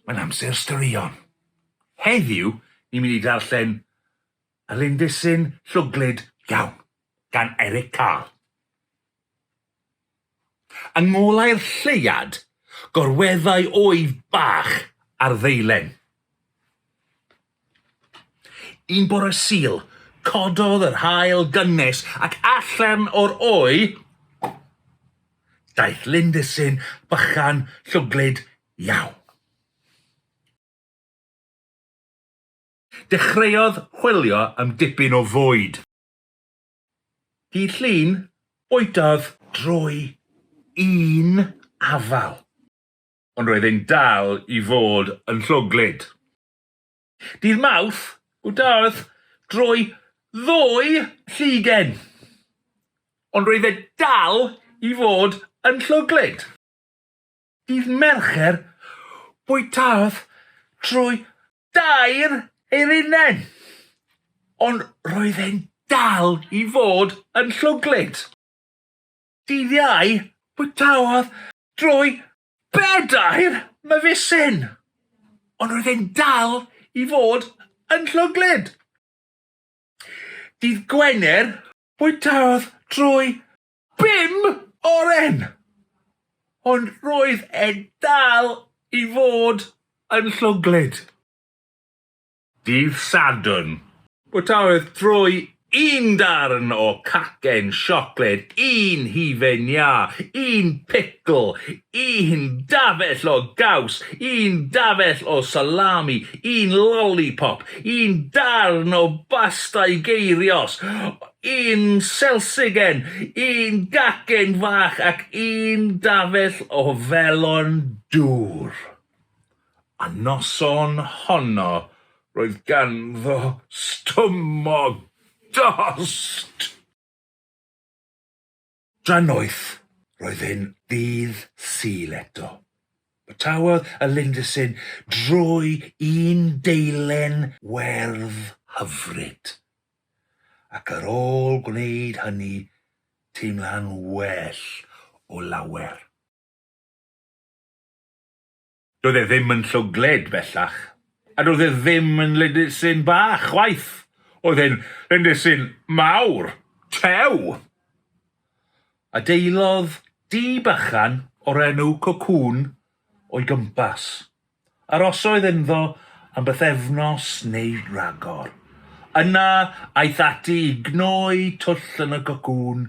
Mae'n amser straeon. Heddiw, ni'n mynd i ddarllen Lindisyn Llwglyd Iawn gan Eric Carle. Yng ngolau'r lleuad, gorweddai oedd bach ar ddeilen. Un bore Sul, cododd yr haul gynnes ac allan o'r oe daeth lindysyn bychan llwglyd iawn. Dechreuodd chwilio am dipyn o fwyd. Dydd Llun, bwydodd drwy un afal. Ond roedd e'n dal i fod yn llwglyd. Dydd Mawrth, bwydodd drwy ddwy llugen. Ond roedd e dal i fod yn llwglyd. Dydd Mercher, bwytaodd trwy dair eirinedd, ond roedd e'n dal i fod yn llwglyd. Dydd Iau, bwytaodd drwy bedair myfisyn, ond roedd e'n dal i fod yn llwglyd. Dydd Gwener, bwytaodd drwy Bum oren! Ond roedd e dal i fod yn llwglyd. Dydd Sadwrn, bwytaodd Trwy un darn o cacen siocled, un hufen iâ, un picl, un dafell o gaws, un dafell o salami, un lolipop, un darn o basta i geirios. un selsigen, un gacen fach ac un dafell o felon dŵr. A noson honno roedd ganddo stumog dost! Tra noeth, roedd e'n ddydd Sul eto. Bwytaodd y lindysyn drwy un deilen werdd hyfryd, ac ar ôl gwneud hynny, teimla'n well o lawer. Doedd e ddim yn llwglyd, bellach, a doedd e ddim yn lindysyn bach, chwaith. Oedd e'n lindysyn mawr, tew! Adeillodd dŷ bychan o'r enw Cocoon o'i gwmpas. Arosodd ynddo am bythefnos neu ragor. Yna aeth ati i gnoi twll yn y cocoon.